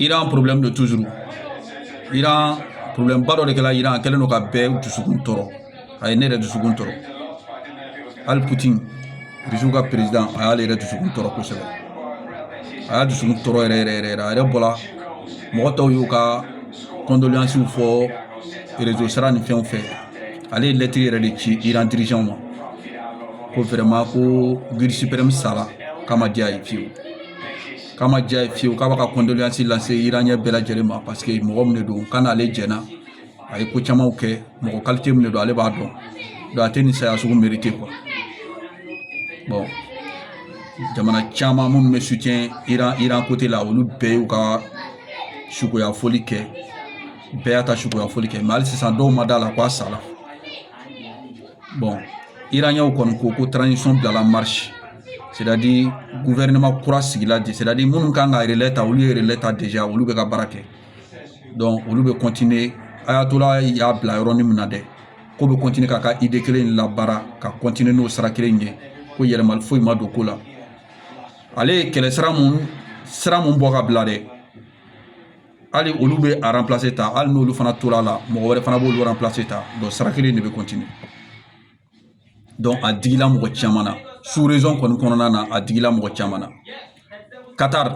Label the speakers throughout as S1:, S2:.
S1: Iran problème de toujours Iran problème ba dɔ de kɛra Iran a kɛlen don ka bɛɛ dusukun tɔɔrɔ a ye ne yɛrɛ dusukun tɔɔrɔ hali Poutine Russie ka président a y'ale yɛrɛ dusukun tɔɔrɔ kosɛbɛ a y'a dusukun tɔɔrɔ yɛrɛ yɛrɛ yɛrɛ a yɛrɛ bɔra mɔgɔ tɔw y'u ka condoléances fɔ réseau sira ni fɛnw fɛ ale ye lɛtiri yɛrɛ de ci Iran dirigeant ma ko vraiment ko guide suprême sara k'a ma diya ye fiyewu k'a ma diya ye fiyewu k'a b'a ka kɔndoleyansi lase iraniyɛn bɛɛ lajɛlen ma parce que mɔgɔ min de don k'a n'ale jɛna a ye ko camanw kɛ mɔgɔ kalite min de don ale b'a dɔn donc a tɛ nin saya sugu merite kuwa bɔn jamana caman minnu bɛ sutiyɛn iran kote la olu bɛɛ y'u ka sukoya foli kɛ bɛɛ y'a ta sukoya foli kɛ mɛ hali sisan dɔw ma d'a la ko a sala bɔn iraniyɛnw kɔni ko ko transition bilala marche c'est-à-dire gouvernement kura sigila de c'est-à-dire minnu kan ka relais ta olu ye relais ta déjà olu bɛ ka baara kɛ donc olu bɛ continuer ayatola y'a bila yɔrɔnin min na dɛ k'o bɛ continuer k'a ka idée kelen in labaara ka continuer n'o sira kelen ye ko yɛlɛmali foyi ma don ko la ale ye kɛlɛ sira mun bɔ ka bila dɛ hali olu bɛ a ranpilase ta hali n'olu fana tora a la mɔgɔ wɛrɛ fana b'olu ranpilase ta donc sira kelen de bɛ continuer donc a digila mɔgɔ caman na sur réseau kɔni kɔnɔna na a digila mɔgɔ caman na katari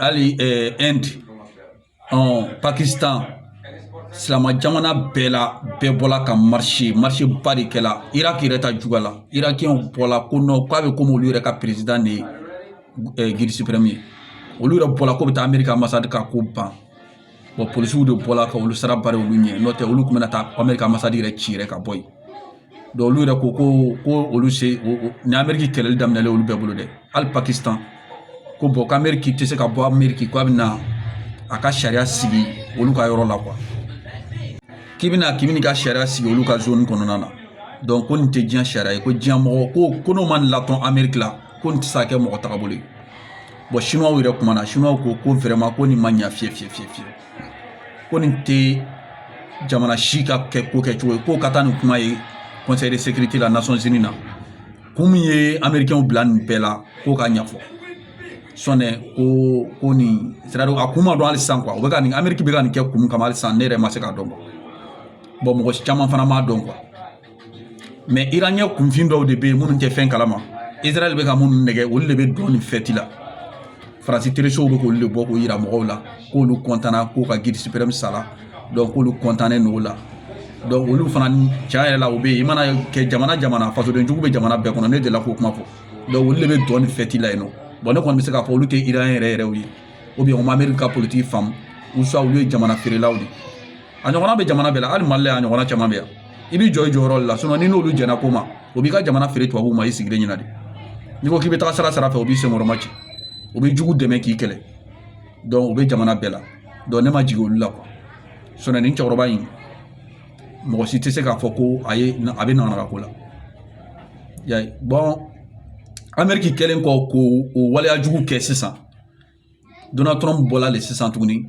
S1: hali Inde pakisitan silamɛ jamana bɛɛ la bɛɛ bɔla ka marise marise ba de kɛla iraki yɛrɛ ta juguya la irakiyɛnw bɔla ko nɔn k'a bɛ komi olu yɛrɛ ka peresidan de ye guide suprême ye olu yɛrɛ bɔra ko bɛ taa ameriki ambassade ka ko ban polisiw de bɔra ka olu sira bari olu ɲɛ n'o tɛ olu tun bɛna taa ameriki ambassade yɛrɛ ci yɛrɛ ka bɔ yen olu yɛrɛ ko ko ko olu se ni ameriki kɛlɛli daminɛ olu bɛɛ bolo dɛ hali pakisitan ko bɔn k'ameriki tɛ se ka bɔ ameriki k'a bɛna a ka sariya sigi olu ka yɔrɔ la k'i bɛna k'i bɛna ka sariya sigi olu ka zoni kɔnɔna na ko nin tɛ diɲɛ sariya ye ko diɲɛ mɔgɔ ko ko n'o ma nin latɔn ameriki la ko nin tɛ se ka kɛ mɔgɔ tagabolo ye bɔn siniwaw yɛrɛ kumana siniwaw ko ko vraiment ko nin ma ɲa fiyɛ fiyɛ fiyɛ fiyɛ ko nin tɛ jamana si ka kɛ ko kɛcogo ye k'o ka taa nin kuma ye conseil de sécurité la nations unies na kun min ye américainw bila nin bɛɛ la k'o ka ɲɛfɔ sɔnɛ ko ko nin c'est-à-dire a kun ma dɔn hali sisan kuwa o bɛ ka nin ameriki bɛ ka nin kɛ kun kama hali sisan ne yɛrɛ ma se k'a dɔn kuwa bɔn mɔgɔ caman fana m'a dɔn kuwa mɛ iraniɲɛ kunfin dɔw de bɛ yen minnu tɛ fɛn kalama israɛl bɛ ka minnu nɛgɛn olu de bɛ dɔn ni fɛti la faransi telesow bɛ k'olu de bɔ k'o yira mɔgɔw la k'olu kɔntana k'u ka gidi siprɛm sara donc k'olu kɔntannen don o la donc olu fana tiɲɛ yɛrɛ la u bɛ yen i mana kɛ jamana jamana fasoden jugu bɛ jamana bɛɛ kɔnɔ ne delila k'o kuma fɔ donc olu de bɛ dɔn ni fɛti la yen nɔ bɔn ne kɔni bɛ se k'a fɔ olu tɛ iraniɲɛ yɛrɛ yɛrɛw ye ou bien u ma ameriki ka politiki faamu ou soit olu ye jamana feerelaw de ye a ɲɔgɔnna bɛ jamana bɛɛ la hali mali la a ɲɔgɔnna caman bɛ yan i b'i jɔ i jɔyɔrɔ la sinɔn n'i n'olu jɛnna ko ma o b'i ka jamana feere tubabuw ma i sigilen ɲɛna de n'i ko k'i bɛ taga sira sara fɛ o b'i senkɔrɔmacɛ o bɛ jugu dɛmɛ k'i kɛlɛ dɔnku o bɛ jamana bɛɛ la dɔnku ne ma jigin olu la kuwa sinɔn nin cɛkɔrɔba in mɔgɔ si tɛ se k'a fɔ ko a ye a bɛ nɔnɔ ka ko la y'a ye bɔn ameriki kɛlen kɔ k'o o waleya jugu kɛ sisan Donald Trump bɔla de sisan tuguni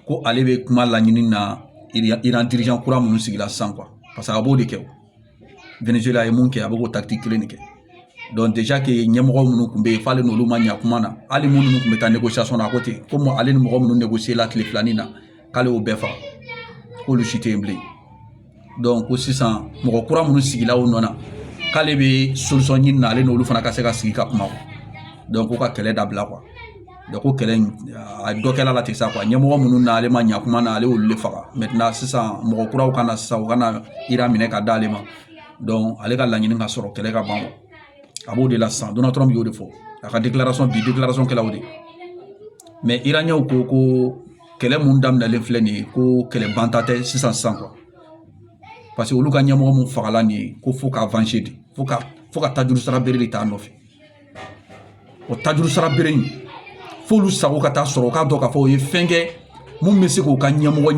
S1: ko ale bɛ kuma laɲini na Iran dirijan kura minnu sigila sisan kuwa paseke a b'o de kɛ Venezuela a ye mun kɛ a bɛ k'o takitiki kelen de kɛ dɔnku deja ke ɲɛmɔgɔ minnu tun bɛ yen f'ale n'olu ma ɲɛ kuma na hali minnu tun bɛ taa negosiyasɔn na a ko ten komi ale ni mɔgɔ minnu negosiyela tile filanin na k'ale y'o bɛɛ faga k'olu si tɛ yen bilen dɔnku ko sisan mɔgɔ kura minnu sigila o nɔ na k'ale bɛ solisɔn ɲini na ale n'olu fana ka se ka sigi ka kuma ko ka kɛlɛ dabila ko kɛlɛ in a dɔ kɛla la ten sa ɲɛmɔgɔ minnu n'ale ma ɲa kuma na ale y'olu de faga sisan mɔgɔ kuraw ka na sisan u ka na iran minɛ ka d'ale ma ale ka laɲini ka sɔrɔ kɛlɛ ka ban a b'o de la sisan donald trump y'o de fɔ a ka bi kɛla o de ye iraniyaw ko ko kɛlɛ mun daminɛlen filɛ nin ye ko kɛlɛ banta tɛ sisan sisan kuwa paseke olu ka ɲɛmɔgɔ mun fagala nin ye ko fo ka avanse de fo ka fo ka tajuru sara bere de t'a nɔfɛ o tajuru sara bere in f'olu sago ka taa sɔrɔ u k'a dɔn k'a fɔ o ye fɛn kɛ mun bɛ se k'u ka ɲɛmɔgɔ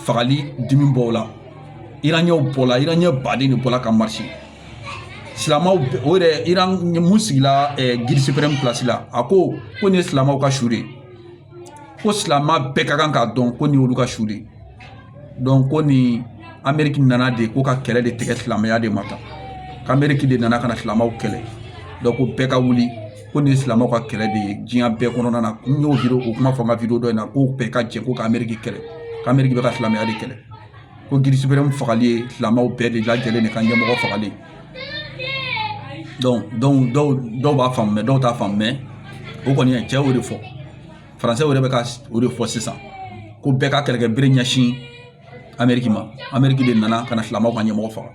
S1: fagali dimi bɔ o la iraniyaw bɔla iraniya baden de bɔla ka marise silamaw o yɛrɛ iran mun sigila gidi siprɛm pilasi la a ko ko nin ye silamaw ka su de ye ko silamɛ bɛɛ ka kan k'a dɔn ko nin y'olu ka su de ye dɔnku ko nin ameriki nana de ko ka kɛlɛ de tigɛ silamɛya de ma tan k'ameriki de nana ka na silamɛw kɛlɛ dɔnku ko bɛɛ ka wuli ko nin ye silamɛw ka kɛlɛ de ye diɲɛ bɛɛ kɔnɔna na n y'o video o kuma fɔ n ka video dɔ in na ko bɛɛ ka jɛ ko ka ameriki kɛlɛ k'ameriki bɛ ka silamɛya de kɛlɛ ko gidi siprɛm fagali ye silamɛw bɛɛ de lajɛlen de ka ɲɛmɔgɔ fagali dɔw b'a faamu dɔw t'a faamu mɛ o kɔni ye cɛ y'o de fɔ faransɛ yɛrɛ bɛ ka o de fɔ sisan ko bɛɛ ka kɛlɛkɛ bere ɲɛsin ameriki ma ameriki de nana ka na silamɛw ka ɲɛmɔgɔ faga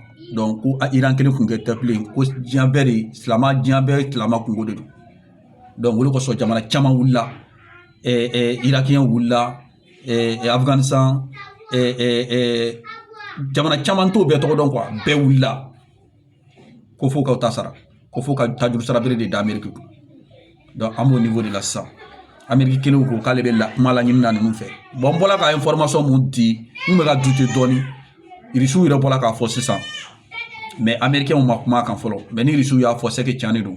S1: ko a iran kelen kunko tɛ bilen ko diɲɛ bɛɛ de silamɛ diɲɛ bɛɛ silamɛ kunko de don o le kosɔn jamana caman wulila iraki wulila afghanistan jamana caman t'o bɛɛ tɔgɔ dɔn quoi bɛɛ wulila ko fo ka ta sara ko fo ka tajuru sara bere de da ameriki kun an b'o niveau de la sisan ameriki kelen ko k'ale bɛ la kuma laɲini na ninnu fɛ n bɔla ka information mun di n bɛ ka douter dɔɔni irisiw yɛrɛ bɔla k'a fɔ sisan mais amerikɛnw ma kuma kan fɔlɔ mais ni irisiw y'a fɔ c'est que tiɲɛ de don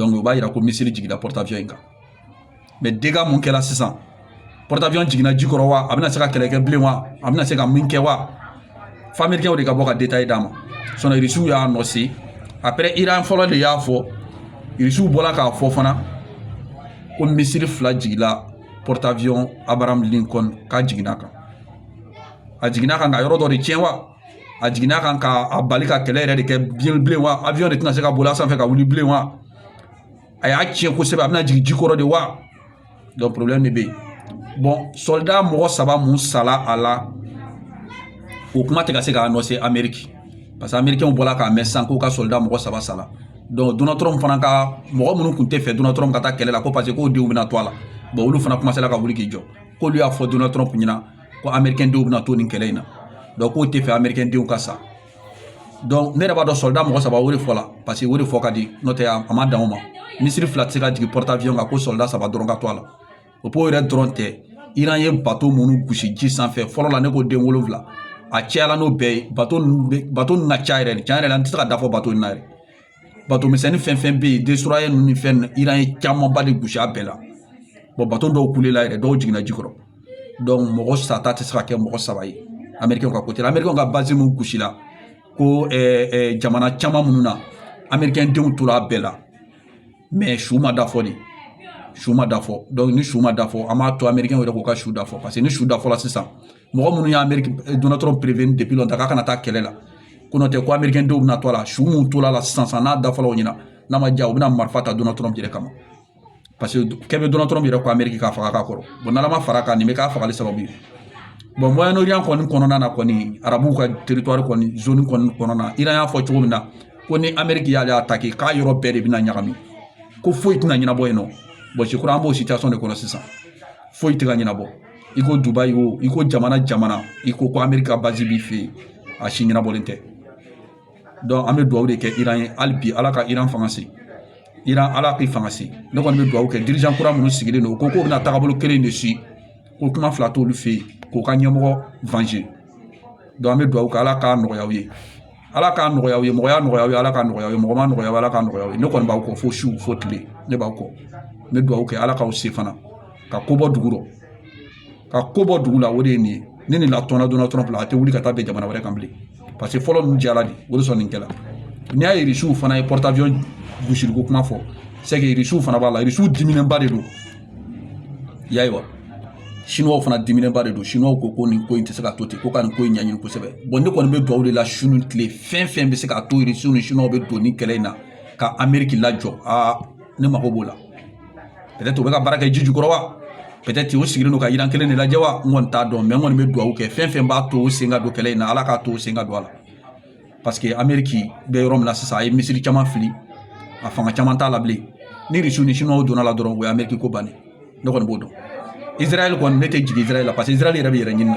S1: o b'a yira ko missile jigila porte-avions in kan mais dégât mun kɛla sisan porte-avions jiginna ji kɔrɔ wa a bɛna se ka kɛlɛ kɛ bilen wa a bɛna se ka min kɛ wa fo amerikɛnw de ka bɔ ka détail d'an ma sinon irisiw y'a annoncer après iran fɔlɔ de y'a fɔ irisiw bɔla k'a fɔ fana ko missile fila jigila porte-avions abraham lincoln k'a jiginna kan a jiginna kan ka yɔrɔ dɔ de tiɲɛ wa a jiginna kan ka a bali ka kɛlɛ yɛrɛ de kɛ bien bilen wa avion de tɛna se ka boli a sanfɛ ka wuli bilen wa a y'a tiɲɛ kosɛbɛ a bɛna jigin ji kɔrɔ de wa donc problème de bɛ yen bon soldat mɔgɔ saba mun sala a la o kuma tɛ ka se k'a annoncer ameriki parce que amerikɛnw bɔla k'a mɛn sisan k'u ka soldat mɔgɔ saba sala donc donald trump fana ka mɔgɔ minnu tun tɛ fɛ donald trump ka taa kɛlɛ la ko parce que k'o denw bɛna to a la bon olu fana commencer la ka wuli k'i jɔ k'olu y'a fɔ donald trump ɲɛna ko amerikɛn denw bɛna to nin kɛlɛ in na donc k'o tɛ fɛ amerikɛn denw ka sa donc ne yɛrɛ b'a dɔn soldat mɔgɔ saba o de fɔ la parce que o de fɔ ka di n'o tɛ a ma dan o ma missile fila tɛ se ka jigin porte-avions kan ko soldat saba dɔrɔn ka to a la o b'o yɛrɛ dɔrɔn tɛ iran ye bato minnu gosi ji sanfɛ fɔlɔ la ne ko den wolonwula a cayala n'o bɛɛ ye bato ninnu bɛ bato ninnu ka ca yɛrɛ de tiɲɛ yɛrɛ la n tɛ se ka da fɔ bato in na yɛrɛ bato misɛnnin fɛn fɛn bɛ yen destroyer ninnu ni fɛn ninnu iran ye camanba de gosi a bɛɛ la bato dɔw kulela yɛrɛ dɔw jiginna ji kɔrɔ mɔgɔ sata tɛ se ka kɛ mɔgɔ saba ye amerikɛnw ka côté amerikɛnw ka base mun gosi la ko jamana caman minnu na amerikɛn denw tora a bɛɛ la mais su ma da fɔ de su ma da fɔ ni su ma da fɔ an b'a to amerikɛn yɛrɛ k'u ka su da fɔ parce que ni su da fɔla sisan mɔgɔ minnu ye ameriki donald trump prévenir depuis longtemps k'a kana taa kɛlɛ la ko n'o tɛ ko amerikɛn denw bɛna to a la su minnu tora la sisan sisan n'a da fɔla u ɲɛna n'a ma diya u bɛna marifa ta donald trump yɛrɛ kama parce que kɛ bɛ donald trump yɛrɛ kɔ ameriki k'a faga ka kɔrɔ bon n'ala ma fara kan nin bɛ k'a fagali sababu ye bon moyen-orient kɔni kɔnɔna na kɔni arabuw ka territoire kɔni zone kɔni kɔnɔna na iran y'a fɔ cogo min na ko ni ameriki y'ale attaquer k'a yɔrɔ bɛɛ de bɛna ɲagami ko foyi tɛna ɲɛnabɔ yen nɔ bon je crois an b'o situation de kɔnɔ sisan foyi tɛ ka ɲɛnabɔ i ko dubaï o i ko jamana jamana i ko ko ameriki ka base b'i fɛ yen a si ɲɛnabɔlen tɛ donc an bɛ dugawu de kɛ iran ye hali bi ala ka iran fanga se iran ala k'i fanga se ne kɔni bɛ dugawu kɛ dirigeant kura minnu sigilen don u ko k'u bɛna taabolo kelen de si ko kuma fila t'olu fɛ yen k'u ka ɲɛmɔgɔ venger donc an bɛ dugawu kɛ ala k'a nɔgɔya aw ye ala k'a nɔgɔya aw ye mɔgɔya nɔgɔya aw ye ala k'a nɔgɔya aw ye mɔgɔ ma nɔgɔya ala k'a nɔgɔya aw ye ne kɔni b'aw kɔ fo su fo tile ne b'aw kɔ n bɛ dugawu kɛ ala k'aw se fana ka ko bɔ dugu rɔ ka ko bɔ dugu la o de ye nin ye ni nin latɔnna donald trump la a tɛ wuli ka taa bɛn jamana wɛrɛ kan bilen parce que fɔlɔ ninnu diyara de o de sɔn nin kɛla n'i y'a ye irisiw fana ye porte-avions gosiliko kuma fɔ c'est que irisiw fana b'a la irisiw diminenba de don Ye wa siniwaw fana diminenba de don siniwaw ko ko nin ko in tɛ se ka to ten ko ka nin ko in ɲɛɲini kosɛbɛ bon ne kɔni bɛ dugawu de la su ni tile fɛn fɛn bɛ se k'a to irisiw ni siniwaw bɛ don nin kɛlɛ in na ka ameriki lajɔ aa ne mago b'o la peut-être u bɛ ka baara kɛ ji jukɔrɔ wa peut-être u sigilen don ka iran kelen de lajɛ wa n kɔni t'a dɔn mais n kɔni bɛ dugawu kɛ fɛn fɛn b'a to u sen ka don kɛlɛ in na ala k'a to u sen ka don a la paseke ameriki bɛ yɔrɔ min na sisan a ye misili caman fili a fanga caman t'a la bilen ni irisiw ni siniwaw donna a la dɔrɔn o ye ameriki ko bannen ne kɔni b'o dɔn izarayɛli kɔni ne tɛ jigin izarayɛli la paseke izarayɛli yɛrɛ bɛ yɛrɛ ɲini